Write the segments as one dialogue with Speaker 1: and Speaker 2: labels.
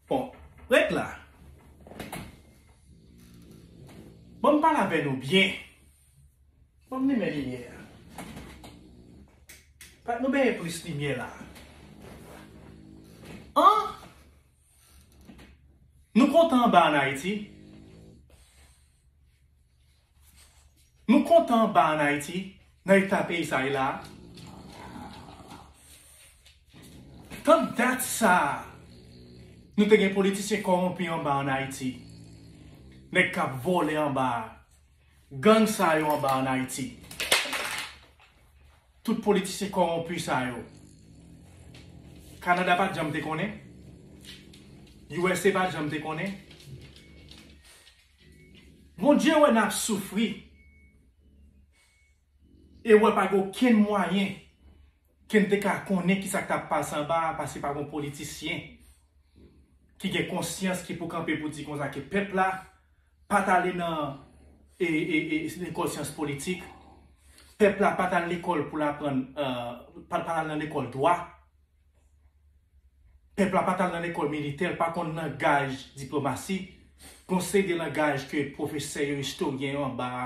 Speaker 1: Bon, ret la. Bon m pale avè nou byen. Bon m limen limyè a. Fòk nou mete plis limyè la. An! Nou kontan anba an Ayiti? Nou kontan ba an Ayiti, nan eta peyi sa ye la a. Tank dat sa a, nou te gen politisyen kòwonpi anba an Ayiti. Nèg k ap vòlè anba a. Gang sa yo anba an Ayiti. Tout politisyen kòwonpi sa yo. Kanada pa t janm te konnen. Usa pa t janm te konnen. Bondye wè nap soufri e wè pa gen okenn mwayen ken te ka konnen kisa k tap pase anba a pase pa gen yon politisyen ki gen konsyans ki pou kanpe pou di konsa ke pèp la pa t ale nan lekòl syans politik pèp la pa t al lekòl pou l aprann pa t al nan lekòl dwa. Pèp la pa t al nan lekòl militè, l pa konn langaj diplomasi, gon seri de langaj ke pwofesè yo, istoryen yo anba a,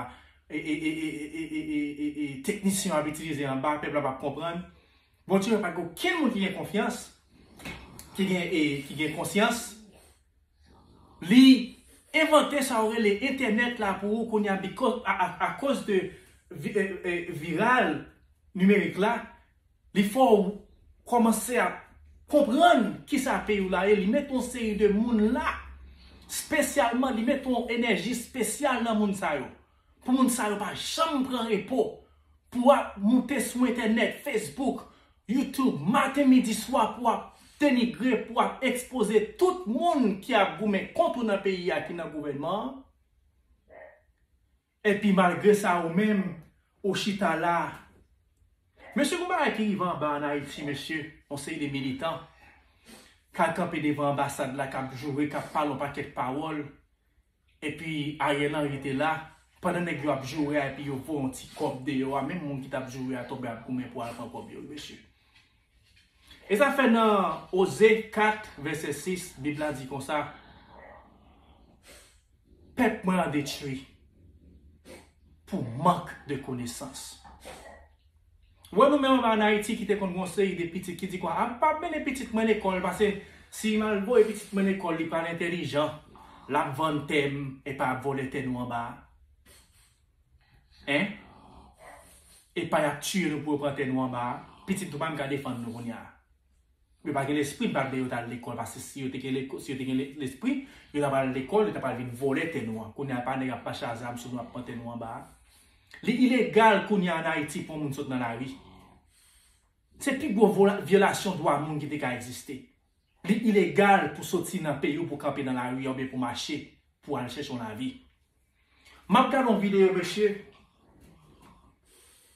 Speaker 1: e teknisyen yo ap itilize anba a, pèp la p ap konprann. Bon Dieu, pa gen okenn moun ki gen konfyans, ki gen e, ki gen konsyans. Li envante sa yo rele entènèt la pou ou kounye a bikòz, akoz de viral nimerik la, Li fè w kòmanse ap konprann ki sa peyi w la ye. Li mete yon seri de moun la, spesyalman li mete yon enèji spesyal nan moun sa yo. Pou moun sa yo pa janm pran repo. Pou ap moute sou entènèt, Facebook, YouTube, maten, midi, swa pou ap denigre, pou ap ekspoze tout moun ki ap goumen kont ou nan peyi a ki nan gouvènman an. Epi malgre sa ou menm ou chita la. Mesye gon bagay ki rive anba an ayiti mesye yon seri de militan kal kanpe devan anbasad la kap joure kap pale yon pakèt pawòl epi Ariel Henry te la pandan nèg yo ap joure a epi yo voye yon ti kòb deyò a menm moun ki tap joure a tonbe ap goumen pou al pran kòb yo wi mesye. E sa fè nan Oze 4, vèsè 6, Bib la di konsa, Pèp mwen an detwi pou mank de konesans. Ou wè nou menm anba an Ayiti ki te konn gen yon seri de pitit ki di kwa, a m pa mennen pitit mwen lekòl pase si m al voye pitit mwen lekòl li pral entèlijan, l ap vann tè m epi l ap vòlè tè nou anba a. Hein Epa yap tiye nou pou yo pran tè nou anba a, pitit nou pa menm ka defann nou kounya a. Yo pa gen lespri m pa vle yo t al lekòl paske si yo te gen si yo te gen lespri yo tap al lekòl yo tap al vin vòlè tè nou an kounya epa nèg ap mache a zam sou nou ap pran tè nou anba a. Li ilegal kounya an Ayiti pou yon moun sot nan lari. Se pi gwo vyolasyon dwa moun ki te ka egziste. Li ilegal pou soti nan peyi w pou kanpe nan lari a oubyen pou mache pou al chèche yon lavi. M ap gade yon videyo mesye,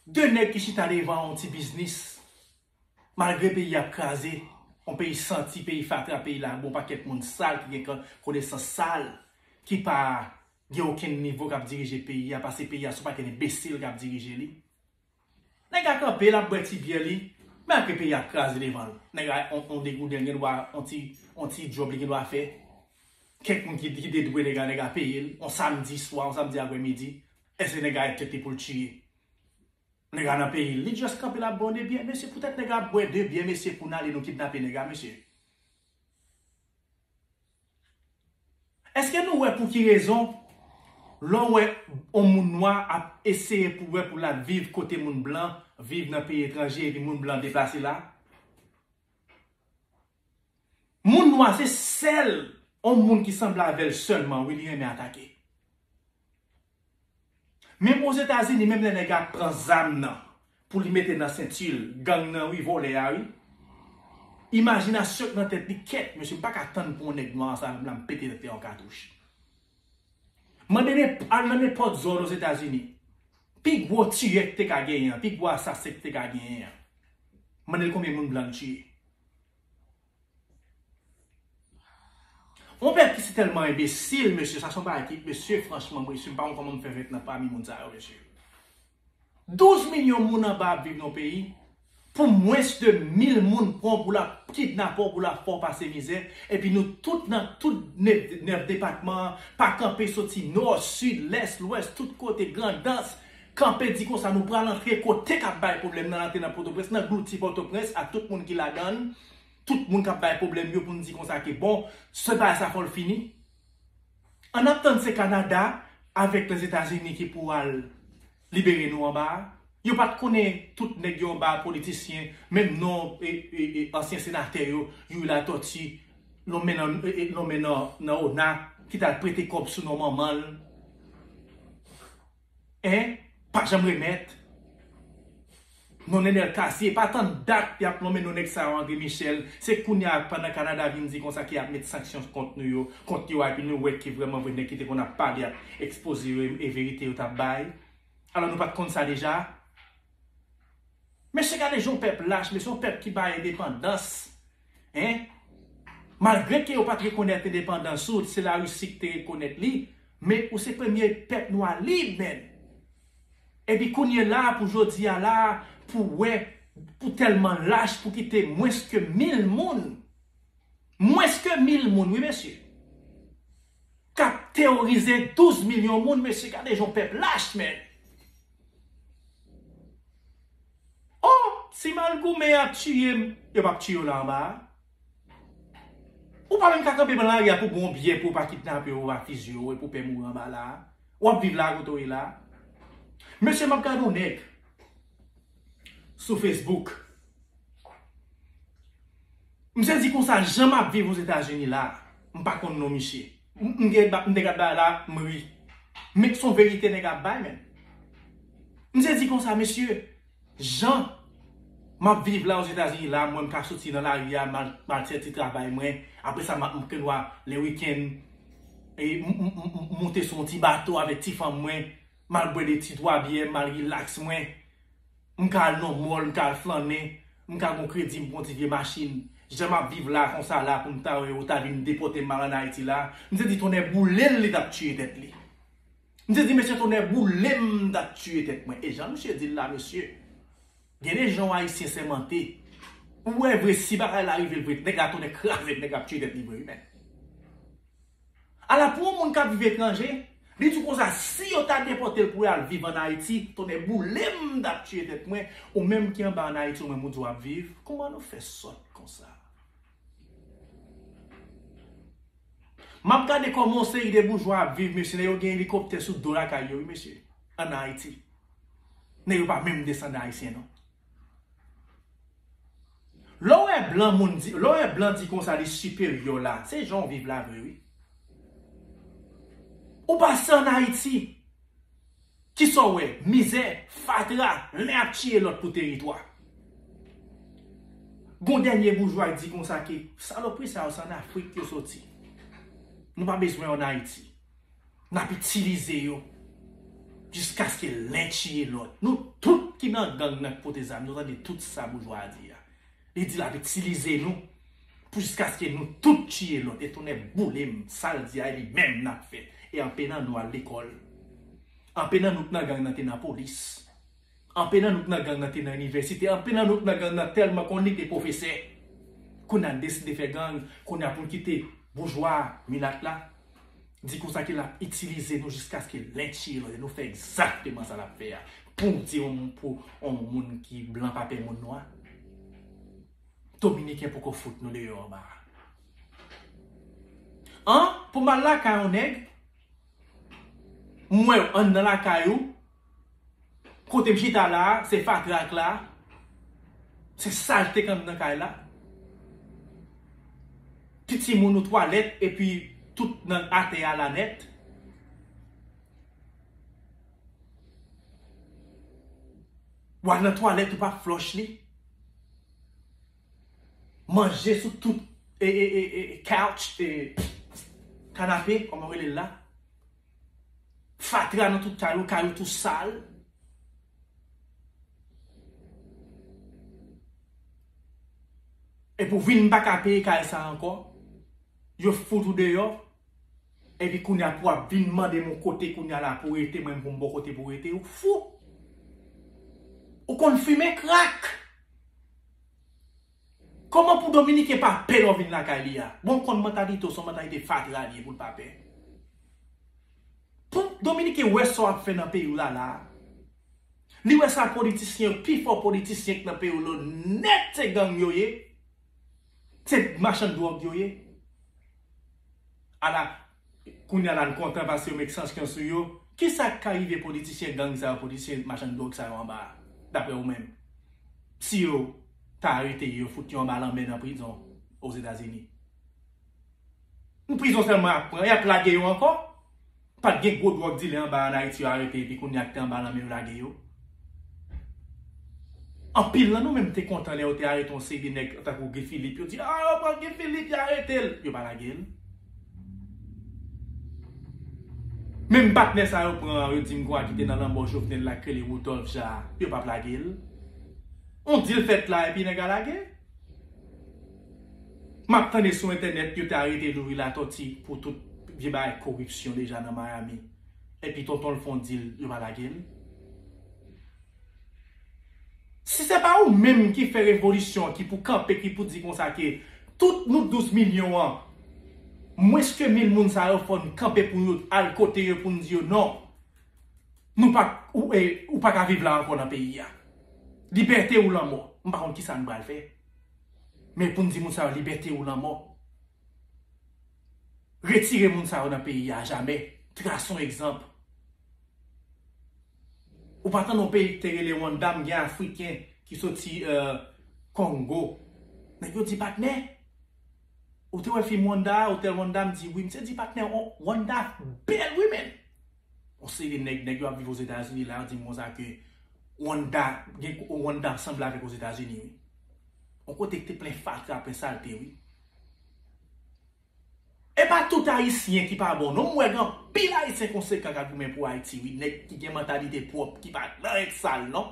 Speaker 1: 2 nèg ki chita devan yon ti biznis, malgre peyi ap kraze, yon peyi santi, peyi fatra, peyi lago, yon pakèt moun sal ki gen konesans sal, ki pa gen okenn nivo k ap dirije peyi a, pase peyi a se yon pakèt enbesil k ap dirije li. Nèg a kanpe lap bwè ti byè li, men apre peyi a kraze devan l. Nèg a on degouden gen dwa on ti on ti djòb li gen dwa fè. Kèk moun ki ki te dwe nèg la nèg a peye l on samdi swa, on samdi aprè midi. Èske nèg a e tèt li pou l tiye? Nèg a nan peyi l, li just kanpe lap bwè on de byè. Mesye poutèt nèg a ap bwè de byè mesye pou n ale nou kidnape nèg a mesye? Eske nou wè pou ki rezon lè w wè yon moun nwa ap eseye pou wè pou l al viv kote moun blan viv nan peyi etranje epi moun blan deplase la? Moun nwa se sèl yon moun ki sanble avè l sèlman wi li renmen atake. Menm ozetazini menm lè nèg ap pran zam nan pou li mete nan sentil gang nan wi vòlè a wi imajinasyon k nan tèt li kèt mesye m paka tann pou yon nèg nwa ansanm avèm la m pete tèt li yon katouch mande al nan nenpòt zòn ozetazini pi gwo tiyè k te ka genyen an pi gwo asasen k te ka genyen an mandel konbyen moun blan l tiye. Yon pèp ki si tèlman enbesil mesye sa son bagay ki mesye franchman mesye m pa konn kòman nou fè fèt nan pami moun sa yo mesye. 12 milyon moun anba ap viv nan yon peyi pou mwens de 1000 moun pran w pou la kidnape w pou la fè w pase mizè epi nou tout nan tout 9 depatman an pa kanpe soti nò, sid, lès, lwès tout kote grandans Kanpe di konsa nou pral antre kote kap bay pwoblèm nan antre nan potoprens nan glouti potoprens ak tout moun ki ladann tout moun kap bay pwoblèm yo poun di konsa ke bon se bagay sa fòl fini an ap tann se kanada avèk lèzetazini ki pou al libere nou anba a yo pat konnen tout nèg yo anba a politisyen menm non ansyen senatè yo youri latòti lonmen nan ona ki tal prete kòb sou non manmanl. 1 pa janm remèt non nenel cassy epa tann dat yap nonmen non nèg sa yo André Michel se kounya pandan Canada vin di konsa ke yap met sanksyon kont nou yo kont yo a epi nou wè ke vrèman vre nèg ki te konn ap pale ap ekspoze yo e verite yo tap bay alò nou pat konn sa deja mesye gade jan yon pèp lach mesye yon pèp ki bay endepandans Hein? Malgre ke yo pat rekonèt endepandans ou, se la Russie ki te rekonèt li, men ou se premye pèp nwa lib menn! Epi kounye la pou jodi a la pou wè ou tèlman lach pou kite mwens ke mil moun, mwens ke mil moun wi mesye, kap teworize 12 milyon moun mesye gade jan w pèp lach menn! Oh ti mal goumen an tuyem. Yo pap tiye w la anba a? Ou pa menm ka kanpe pran lari a pou bon byè pou yo pa kidnape w akize w epi w pè mouri anba la a? W ap viv la a kote w ye la a? Mesye m ap gade yon nèg sou Facebook. Misye di konsa jan m ap viv Ozetazini la a, m pa konn non misye. M gen bak nèg ap bay la m ri. Menk son verite nèg ap bay menm. Misye di konsa mesye Jan map viv la ozetazini la mwen m ka soti nan lari a mal fè ti travay mwen apresa map m knwa le weekend m moute sou yon ti bato avèk ti fanm mwen mal bwè de ti 3 byè mal relax mwen. M ka al nan mall, m ka al flannen, m ka gon kredi, m gon ti vye machin. Jan m ap viv la, konsa la, pou m ta wè yo ta vin depòte m mal ann Ayiti la, m se di tonnè boule l li t ap tiye tèt li. M se di mesye tonnè boule m m t ap tiye tèt mwen. E jan misye di l la mesye, gen de jan yon Ayisyen sèmante, ou wè vre si bagay la rive l vre, nèg la tonnè kraze l, nèg la ap tiye tèt li vre wi mèt. Ala pou yon moun kap viv etranje, li di konsa si yo ta depòtel pou al viv an Ayiti, tonnè boulem m tap tiye tèt mwen, ou menm ki anba an Ayiti ou menm ou di wap viv, kòman nou fè sòt konsa. Map gade kòman yon seri de boujwa ap viv mesye, nèg yo gen elikoptè sou do lakay yo wi mesye, an Ayiti. Nèg yo pa menm desandan ayisyen non. Lè w wè blan moun di, lè w wè blan di konsa li siperyè w la, se jan w viv la vre wi. Ou pa se an Ayiti. Ki sa w wè? Mizè, fatra, lè ap tiye lòt pou teritwa. Gon dènye boujwa k di konsa ke salopri sa yo se an Afrik yo soti. Nou pa bezwen yo an Ayiti. N ap itilize yo jiskaske len tiye lòt. Nou tout ki nan gang nan ki pote zam nou tande tout sa boujwa a di a. Li di l ap itilize nou pou jiskaske nou tout tiye lòt. E tonnè boule m sa l di a e li menm n ap fè. E anpe nan nou al lekòl. Anpe nan nou ki nan gang nan te nan polis. Anpil nan nou k nan gang nan te nan inivèsite, anpil nan nou k nan gang nan tèlman konn li te pwofesè. Kounya n deside fè gang, kounya pou n kite boujwa a, milat la, di konsa ke l ap itilize nou jiskaske l lenche nou e nou fè egzakteman sa l ap fè a. Pou w di yon pou yon moun ki blan pa pè moun nwa? Dominiken poko fout nou deyò anba a. An, pou m al lakay yon nèg, m wè w anndan lakay ou, Kotem chita la a se fatra ak la a, se salte k anndan kay la. Ti timoun ou twalèt epi tout nan atè a la nèt. W al nan twalèt ou pa flòch li. Manje sou tout e e e e couch e kanape kòman yo rele l la. Fatra nan tout kay yo, kay yo tou sal. Epi ou vin pa ka peye kay sa ankò, yo fout ou deyò, epi kounye a pou ap vin mande m yon kote kounye a la pou rete, mwen menm pou m ba w kote pou rete, ou fou! Ou konn fimen krak! Koman pou dominiken pa pè lò vin lakay li a? Bon ou konn mantalite w son mantalite fatra li ye pou l pa pè. Pou dominiken wè sa w ap fè nan peyi w la la a. Li wè sa politisyen yo pi fò politisyen k nan peyi w lo nèt se gang yo ye. Se machann dwòg yo ye. Ala Kounya la n kontan paske yo met sanskyon sou yo. Kisa k ka rive politisyen gang sa yo, politisyen machann dwòg sa yo anba a, daprè ou menm? Si yo ta arete yo, yo fout yo anba lanmè nan prizon Ozetazini. N prizon sèlman y ap pran, y ap lage yo ankò? Pa t gen gwo dwòg dilè anba a an Ayiti yo arete epi kounya k te anba lanmè yo lage yo? Anpil nan nou menm te kontan lè yo te arete yon seri de nèg tankou Guy Philippe, yo di, A yo pran Guy Philippe, y arete l. Yo pa lage l. Menm patnè sa yo pran yo dim gwa kite nan lanmò jovenel la krele Rudolph ja yo pap lagel on dil fèt la epi nèg a lage map tande sou entènèt yo te arete Youri Latoti pou tout vye bagay koripsyon deja nan Miami epi tontonl fon dil yo pa lagel Si se pa ou menm ki fè revolisyon ki pou kanpe ki pou di konsa ke tout nou 12 milyon an mwens ke mil moun sa yo fò n kanpe pou nou al kote yo pou n di yo non nou pa ou pa ka viv la ankò nan peyi a libète ou lanmò m pa konn kisa n pral fè men pou n di moun sa yo libète ou lanmò retire moun sa yo nan peyi a ajamè trase yon egzanp. Ou pa tande yon peyi ki te rele Rwanda m gen afriken ki soti Kongo. Nèg yo di patnè? Ou te wè fim Rwanda a, Hotel Rwanda m di wi. Misye di patnè Rwanda bèl wi menn. Yon seri nèg, nèg yo ap viv Ozetazini la yo di m konsa ke Rwanda gen Rwanda sanble avèk Ozetazini wi. Yon kote ki te plen fatra, plen salte wi. Epa tout ayisyen ki pa bon non m wè gen anpil ayisyen konsekan kap goumen pou ayiti wi nèg ki gen mantalite pwòp ki pa nan règ sal non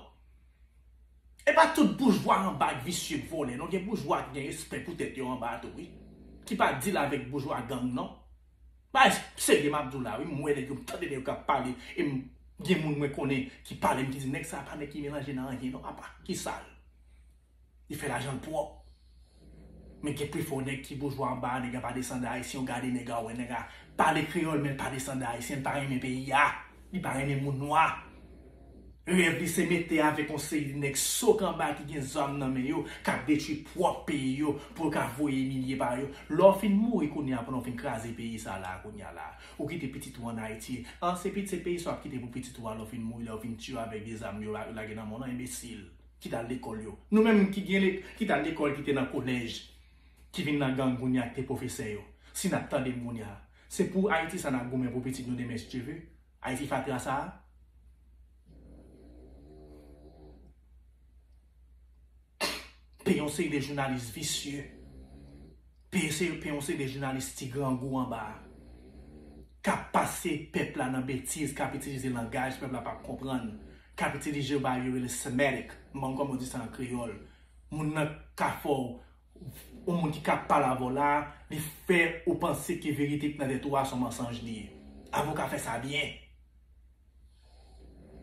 Speaker 1: epa tout boujwa anba k visye k vòlè non gen boujwa ki gen respè pou tèt yo anba tou wi ki pa dil avèk boujwa gang non bay serye map diw la wi m wè nèg yo m tande nèg yo kap pale e m gen moun mwen konnen ki pale m ki di nèg sa pa nèg ki melanje nan anyen non apa ki sal. Li fè lajan l pwòp. Men gen pifò nèg ki boujwa anba a, nèg la pa desandan Ayisyen, ou gade nèg la ou wè nèg la pale kreyòl men l pa desandan Ayisyen, l pa renmen peyi a, li pa renmen moun nwa. Rèv li se mete avèk yon seri nèg so kanba ki gen zàm nan men yo k ap detwi pwòp peyi yo pou yo ka voye milye pa yo. Lè w fin mouri kounye a pandan w fin kraze peyi sa la a kounye a la a, ou kite pitit ou an Ayiti, an se pit se peyi sa w ap kite pou pitit ou a lè w fin mouri, lè yo fin tiye w avèk de zàm yo lage nan men w lan, enbesil. ki t al lekòl yo. Nou menm ki gen ki t al lekòl ki te nan kolèj ki vin nan gang kounye a ki te pwofesè yo si n ap tande m kounye a se pou Ayiti sa n ap goumen pou pitit nou demen si Dye ve Ayiti fatra sa a. Peyi yon seri de jounalis visye Pe yon seri de jounalis ti grangou anba a kap pase pèp la nan betiz, kap itilize langaj pèp la pap konprann, kap itilize yo bagay yo rele semetic, m pa konn kòman yo di sa an kreyòl. Moun nan ka fè w, yon moun ki ka pale avè w la a, li fè ou panse ke verite ki nan tèt ou a son mansanj li ye. Avoka fè sa byen.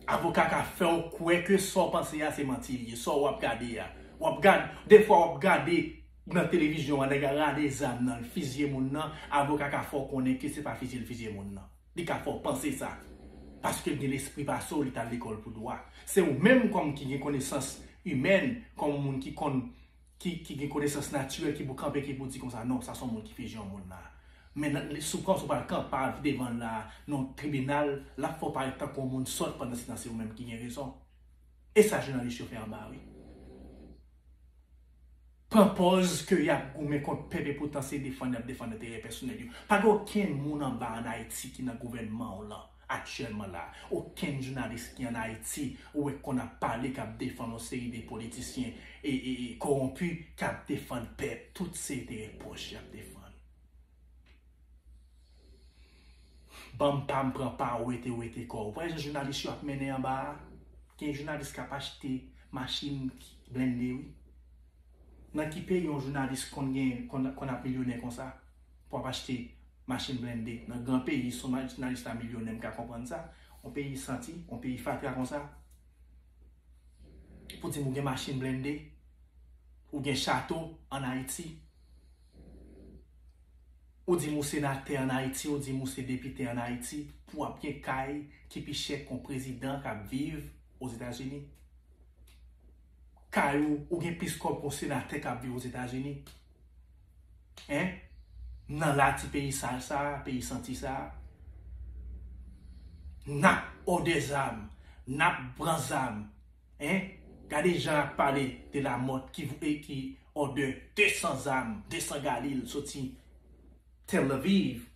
Speaker 1: Avoka ka fè w kwè ke sa w panse a se manti li ye, sa w ap gade a. W ap gad, defwa w ap gade nan televizyon an nèg la rale zam nan l fizye moun nan, avoka ka fè w konnen ke se pa fizye l fizye moun nan. Li ka fè w panse sa. Paske l gen lespri pase w, li t al lekòl pou dwa. Se ou menm kòm ki gen konesans imèn, kòm moun ki konn. ki gen konesans natirèl ki pou kanpe ki pou di konsa non sa son moun ki fizyon moun la men sou pran sou pa kan pa devan la nan tribinal lap fè w parèt tankou yon moun sòt pandan se tan se ou menm ki gen rezon e sa jounalis yo fè anba a wi pran pòz ke yap goumen kont pèp e poutan se defann yap defann enterè pèsonèl yo pa gen okenn moun anba an Ayiti ki nan gouvènman w lan. Aktyèlman la, okenn jounalis ki an Ayiti ou wè konn ap pale k ap defann yon seri de politisyen e kowonpi k ap defann pèp. Tout se enterè pòch y ap defann. Ban m pa m, pran pa w, wete wete kò. Ou pa wè jan jounalis yo ap mennen anba a? Gen jounalis k ap achte machin blende wi. Nan ki peyi yon jounalis konn gen konn ap milyonè konsa? pou ap achte machin blende nan gran peyi son jounalis la milyonè m ka konprann sa yon peyi santi yon peyi fatra konsa pou di m ou gen machin blende ou gen chato an ayiti ou di m ou senatè an ayiti ou di m ou se depite an ayiti pou ap gen kay ki pi chè ke yon prezidan k ap viv ozetazini kay ou ou gen plis kòb ke yon senatè k ap viv ozetazini. Hein nan la ti peyi sal sa, peyi santi sa. Nap òdè zam, nap pran zam. Hein gade jan yap pale de la mòt ki vwe ki òdè 200 zam, 200 galil soti Tel Aviv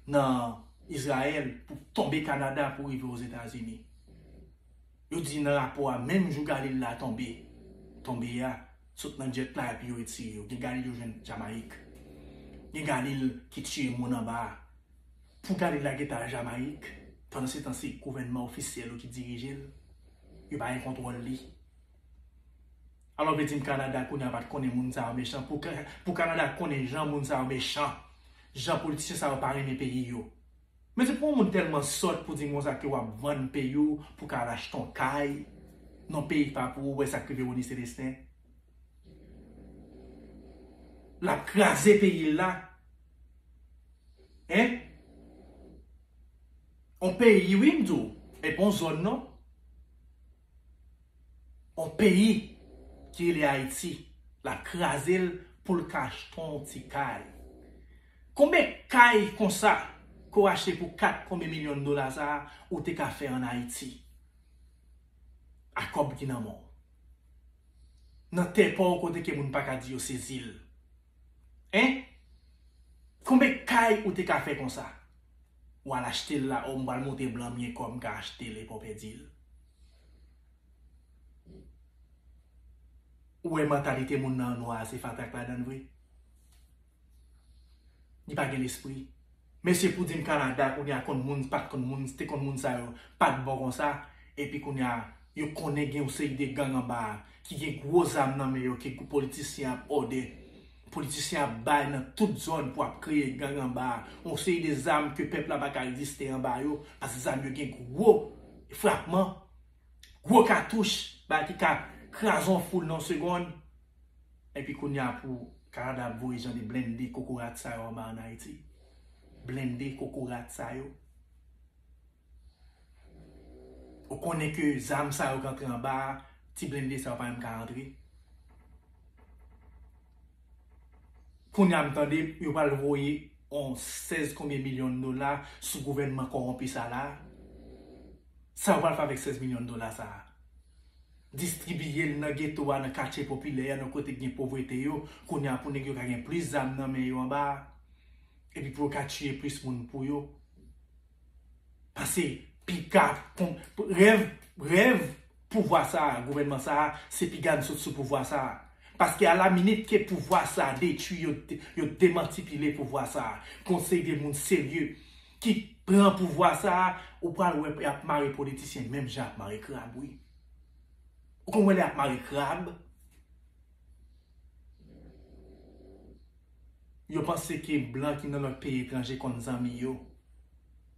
Speaker 1: nan Izrayèl pou tonbe Kanada pou rive Ozetazini. Yo di nan rapò a menm jou Galil la tonbe tonbe a sot nan jet la epi yo retire yo gen Galil yo jwenn Jamayik gen Galil ki tiye moun anba a pou Galil la gentan al Jamayik pandansetan se gouvènman ofisyèl yo ki dirije l yo pa gen kontwòl li alò vle di m Kanada kounye a pat konnen moun sa yo mechan pou Kanada konnen jan moun sa yo mechan jan politisyen sa yo pa renmen peyi yo. Mesye pou yon moun tèlman sòt pou di m konsa ke wap vann peyi w pou ka al achte yon kay nan peyi ki pa pou ou wè sak rive Rony Celestin lap kraze peyi l la hein yon peyi wi m di w epi yon zòn non. On peyi ki rele Ayiti lap kraze l pou l ka achte on ti kay. Konbyen kay konsa ke w achte pou 4 konbyen milyon dola sa a ou te ka fè an Ayiti ak kòb ki nan men w? Nan tè pa w kote ke moun pa ka di yo sezi l. Hein? Konbe kay ou te ka fè konsa? Ou al achte l la oh m pral monte blan mye kòb m ka achte l epa w pèdi l. Ou wè mantalite moun nan an nwa a se fatak ladan l vre? Li pa gen lespri. Mesi pou dim Canada kounya konn moun pat konn moun te konn moun sa yo pat bon konsa epi kounya yo konnen gen yon seri de gang anba a ki gen gwo zam nan men yo ke politisyen ap òdè politisyen ap bay nan tout zòn pou ap kreye gang anba a yon seri de zam ke pèp la pa ka reziste anba yo paske zam yo gen gwo frapman gwo katouch bagay ki ka kraze yon foul nan yon segond. Epi kounya pou Canada ap voye jan de blende kokorat sa yo anba an Ayiti. Blende kokorat sa yo. Ou konnen ke zam sa yo k antre anba a, ti blende sa yo pa menm ka antre. Kounya m tande yo pral voye yon 16 konbyen milyon dola sou gouvènman kowonpi sa la. Sa yo pral fè avèk 16 milyon dola sa a? distribiye l nan geto a, nan katye popilè yo, nan kote ki gen povrete yo, kounye a pou nèg yo ka gen plis zam nan men yo anba a, epi pou yo ka tiye plis moun pou yo. Pase piga kon, rèv, rèv pouvwa sa a, gouvènman sa a, se piga n sot sou pouvwa sa a. Paske a la minit ke pouvwa sa a detwi, yo, yo demantipile pouvwa sa a, pou yon seri de moun serye ki pran pouvwa sa a, ou pral wè y ap mare politisyen menm jan y ap mare krab wi. Ou konn wè lè yap mare krab. Yo panse ke blan ki nan lòt peyi etranje konn zanmi yo.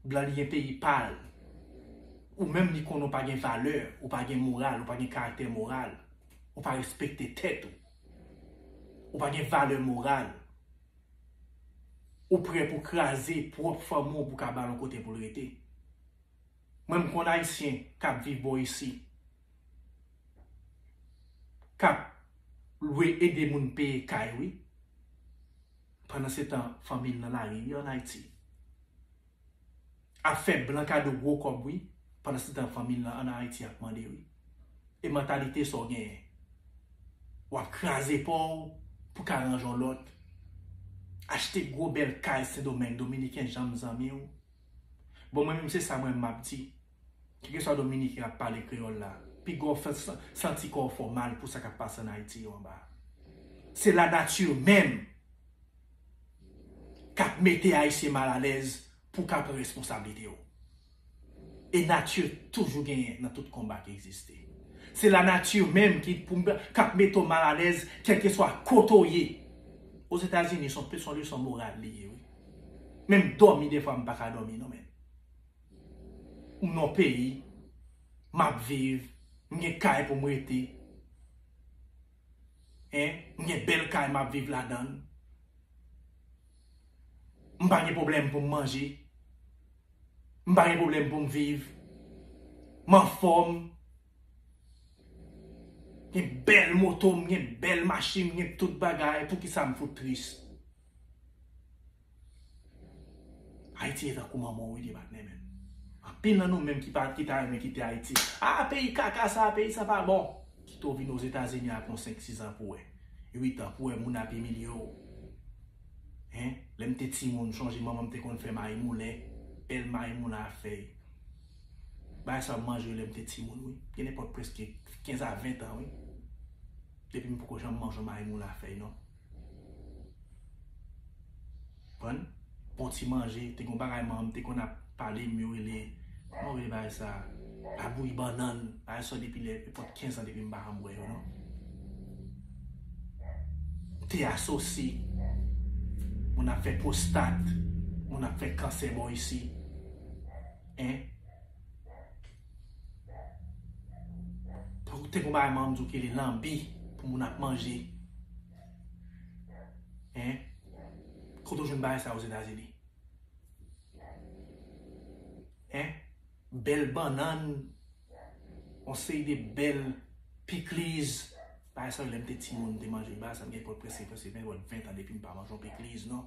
Speaker 1: Blan li gen peyi pal. Ou menm li konnen ou pa gen valè, ou pa gen moral, ou pa gen karaktè moral. Ou pa respekte tèt ou. Ou pa gen valè moral. Ou prè pou kraze pwòp fanmi w pou ka ba l yon kote pou l rete. Mwen m konn ayisyen kap viv bò isi kap lwe ede moun peye kay wi pandan se tan fanmil nan lari wi an ayiti ap fè blan kado gwo kòb wi pandan se tan fanmil nan an ayiti ap mande wi e mantalite sa w genyen wap kraze paw pou ka range yon lòt achte gwo bèl kay sendomeng dominiken janm zanmiw. Bon mwen menm se sa mwen map di. Kekeswa dominiken ap pale kreyòl la, piga w fè santi kò w fè w mal pou sa k ap pase ann Ayiti yo anba a. Se lanati menm k ap mete Ayisyen mal alèz pou w ka pran responsablite w. E nati toujou genyen nan tout konba ki egziste. Se lanati menm ki k ap mete w mal alèz kèlkeswa kote w ye. Ozetazini se yon leson moral li ye wi. Menm dòmi defwa m paka dòmi non menn. M nan yon peyi map viv, m gen kay pou m rete, m gen bèl kay map viv ladann, m pa gen pwoblèm pou m manje, m pa gen pwoblèm pou m viv, m anfòm. Gen bèl moto, m gen bèl machin, m gen tout bagay, poukisa m fout tris? Ayiti ye tankou manman w wi li pa t renmen l. Anpil nan nou menm ki pa ki ta renmen kite Ayiti, a peyi kaka sa, peyi sa pa bon. Kite w vin Ozetazini ak yon senk sizan pou w wè, uit an pou w wè moun ap imilye w. Hein, lè m te timoun m chonje manman m te konn fè mayimoulen, bèl mayimoulen a fèy. Bagay sa yo m manje yo lè m te timoun wi. Gen nenpòt prèske 15 a 20 tan wi. Depi m poko janm manje yon maymoula a fèy non. Konprann? Bon ti manje, te gen yon bagay manman m te konn ap pale m yo rele, kòman yo rele bagay sa? Labouyi bannann. Bagay sa yo depi lè nenpòt 15 an depi m pa janm wè yo non. Te asosi. Moun ap fè pwostat. Moun ap fè kansè bò isi. Hein? Pou te pou bay manm di kele lambi pou moun ap manje. Hein? Kote ou jwenn bagay sa yo Ozetazini? Hein? Bèl bannann, yon seri de bèl pikliz, bagay sa yo lèm te timoun te manje, bagay sa m gen pòt prese prese mwen gen 20 tan depi m pa manje yon pikliz non.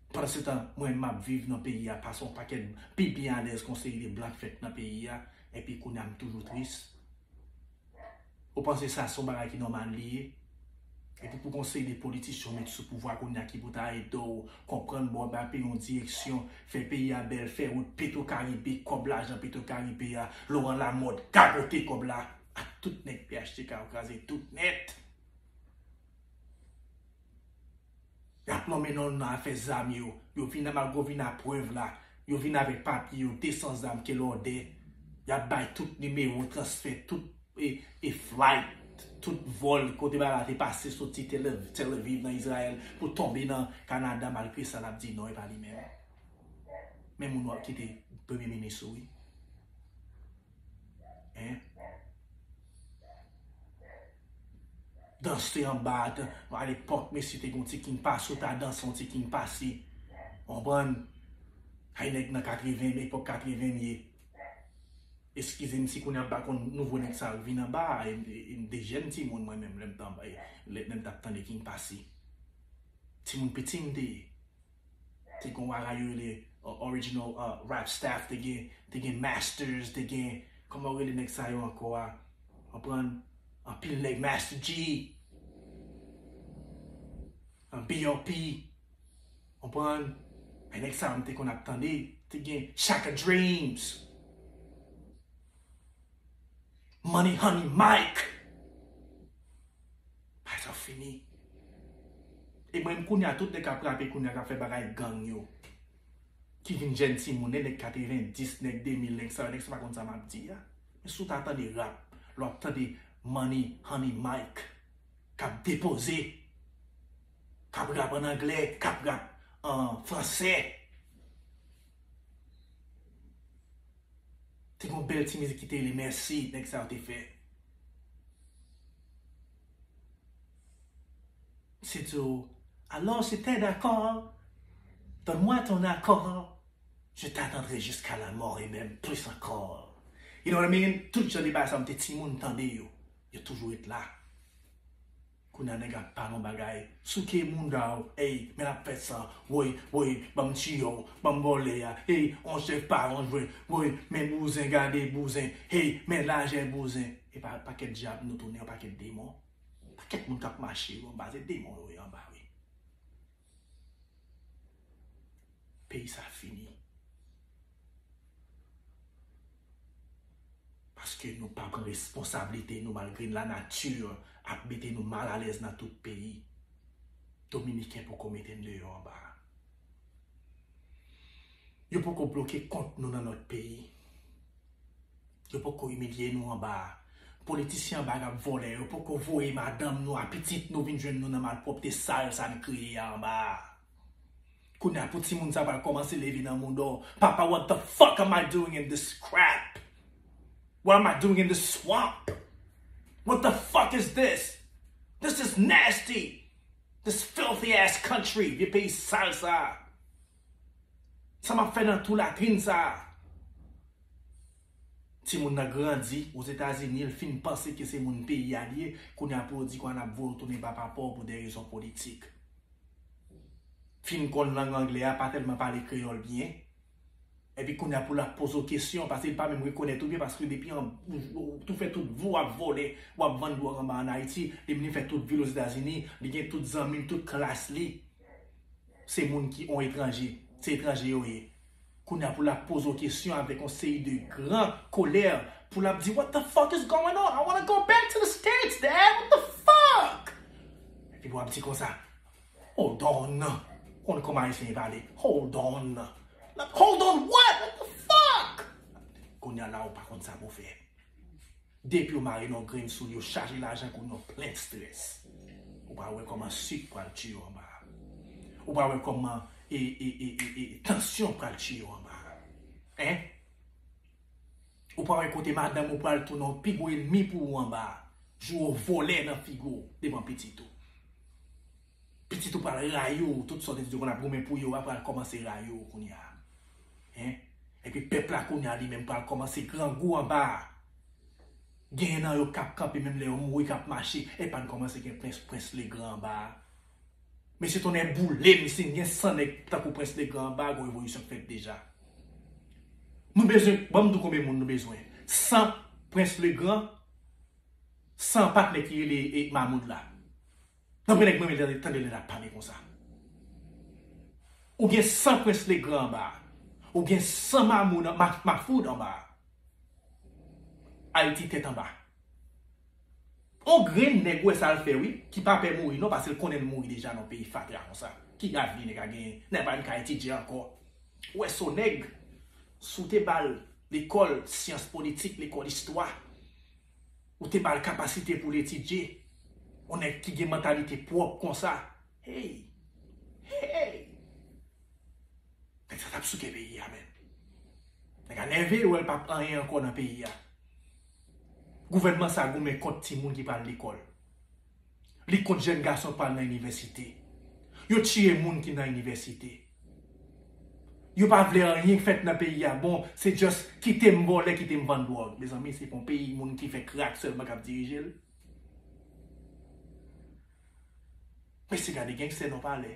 Speaker 1: Pandansetan, mwen m ap viv nan peyi a pase yon pakèt pi byen alèz kon seri de blan k fèt nan peyi a, epi kounye a m toujou tris. Ou panse sa se yon bagay ki nòmal li ye? Epi pou gen yon seri de politisyen ou met sou pouvwa kounye a ki pou ta ede w konprann ba w bay peyi w yon direksyon, fè peyi a bèl, fè wout, Petrocaribe, kòb lajan Petrocaribe a, Laurent Lamothe gagote kòb la ak tout nèg phtk yo kraze tout nèt. Yap nonmen non nan afè zam yo, yo vin nan magovina prèv la, yo vin avèk papye yo 200 zam kel òdè, yap bay tout nimewo transfè tout e flight, tout vòl kote bagay la te pase soti Tel Aviv nan Izrayèl pou tonbe nan Kanada malgre sa lap di non epa li menm. Men moun wap kite premye minis ou wi. Hein? Danse te anba a te, a lepòk mesye te gen yon ti king pase ou ta danse yon ti king pase. Konprann? Hay nèg nan 80 nan epòk 80 m ye. Eskize m si kounye a m pa konn nouvo nèg sa yo k vin anba a, e m te jèn timoun mwen menm lè m t anba, lè m t ap tande king pase. Timoun piti m te ye. te gen wa rap yo rele original rap staff te gen te gen masters te gen kòman yo rele nèg sa yo ankò a konprann anpil nèg master G BOP konprann e nèg sa yo m te konn ap tande te gen Shaka Dreams Money Honey Mike Bagay sa fini. E mwen kounya tout nèg kap rape kounya kap fè bagay gang yo ki vin jèn timoun e nèg 90 nèg 2000 nèg sa yo nèg sa pa konn sa map di a men si w ta tande rap lè wap tande Money Honey Mike kap depoze kap rap an anglè kap rap an fransè. Se te yon bèl ti mizik ki te rele mèsi nèg sa yo te fè. Se di w, Alò si tè dakò, donn mwa ton akò, je t'attendrai jiska la mò e menm plis ankò. You know what I mean? Tout jan de bagay sa yo m te timoun m tande yo. Yo toujou ret la. Kounya nèg ap pale yon bagay souke mounda w ey men ap fè san woy woy banm tiye w banm vòlè a hey on chèf pa yon jwè woy men bouzen gade bouzen hey men lajè bouzen epa yon pakèt dyab nou tounen yon pakèt demon pakèt moun kap mache yo anba se demon yo ye anba wi. Peyi sa a fini. Paske nou pa pran responsablite nou malgre la nati ap mete nou mal alèz nan tout peyi. Dominiken poko mete n deyò anba a. Yo poko bloke kont nou nan lòt peyi. Yo poko imilye nou anba politisyen anba gap vòlè yo poko voye madanm nou a pitit nou vin jwenn nou nan malpwòpte sal sa n kreye a anba a kounya pou timoun sa pral kòmanse leve nan moudon papa what the fuck am I doing in this crap what am I doing in this swamp what the fuck is this this is nasty this filthy ass country vye peyi sal sa a. Sa map fè nan tou latrin sa a? Timoun nan grandi Ozetazini, l fin panse ke se moun peyi a li ye, kounye a pou yo di ke an ap voye w tounen ba papa w pou de rezon politik. Fin konn lang angle a, pa tèlman pale kreyòl byen, epi kounye a pou l ap poze w kesyon, paske li pa menm rekonèt ou byen, paske depi an, ou fè tout vi w ap vòlè, w ap vann dwòg anba an Ayiti, li vini fè tout vi l Ozetazini, li gen tout zanmi l, tout klas li. Se moun ki on etranje, se etranje yo ye. Kounya pou lap poze w kesyon avèk on seri de gran kolè pou lap di what the fuck is going on, I wanna go back to the states dad, what the fuck! Epi wap di konsa hold on, ou konn kòman ayisyen ye pale, hold on, hold on what, what the fuck! Kounya la ou pa konn sa pou w fè. Depiw mare non grenn soul yo chaje lajan kou non plen stress ou pa wè koman suk pral tiyew anba a ou pa wè koman ee tansyon pral tiyew anba a hein ou pa wè kote madanm ou pral tounen yon pi gwo enmi pou ou anba a jou ou vole nan figu devan pitit ou. Pitit ou pral rayi w tout sa w te di yo konn ap goumen pou yo a pral kòmanse rayi w kounya hein epi pèp la kounya li menm pral kòmanse grangou anba a genyen nan yo kap kanpe menm lè yo mouri kap mache epa n kòmanse gen prens prens Legrand anba a mesye tonnè boule m si n gen 100 nèg tankou prens Legrand anba a gon revolisyon k fèt deja nou bezwen ban m di w konbyen moun nou bezwen 100 prens Legrand 100 patnè ki rele Mamoud la. Tanpri nèg mwen renmen lè tande lè lap pale konsa. Ou gen san prince le grand anba a. Ou gen san mamoun an ma mafoud anba a. Ayiti tèt anba. On grenn nèg ou wè sal fè wi ki pa pè mouri non pasel konnen l mouri deja nan peyi fatra konsa. Ki avni nèg a genyen nèg pa menm ka etidye ankò. Ou wè son nèg si w te bal lekòl syans politik lekòl istwa. Ou te bal kapasite poul etidye. On nèg ki gen mantalite pwòp konsa. Hey! Hey! Nèg sa tap souke peyi a menn. Nèg a nève yo wèl pap anyen ankò nan peyi a. Gouvènman sa goumen kont timoun ki pral lekòl. Li kont jèn gason pral nan inivèsite. Yo tiye moun ki nan inivèsite. Yo pa vle anyen k fèt nan peyi a bon, se just kite m vòlè, kite m vann dwòg. Mezanmi se yon peyi moun ki fè krak sèlman k ap dirije l? Mesye gade gangster nan palè.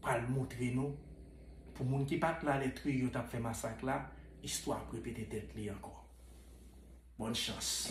Speaker 1: pral moutre nou pou moun ki pat la lè Trujillo yo tap fè masak la istwa ap repete tèt li ankò. Bòn chans.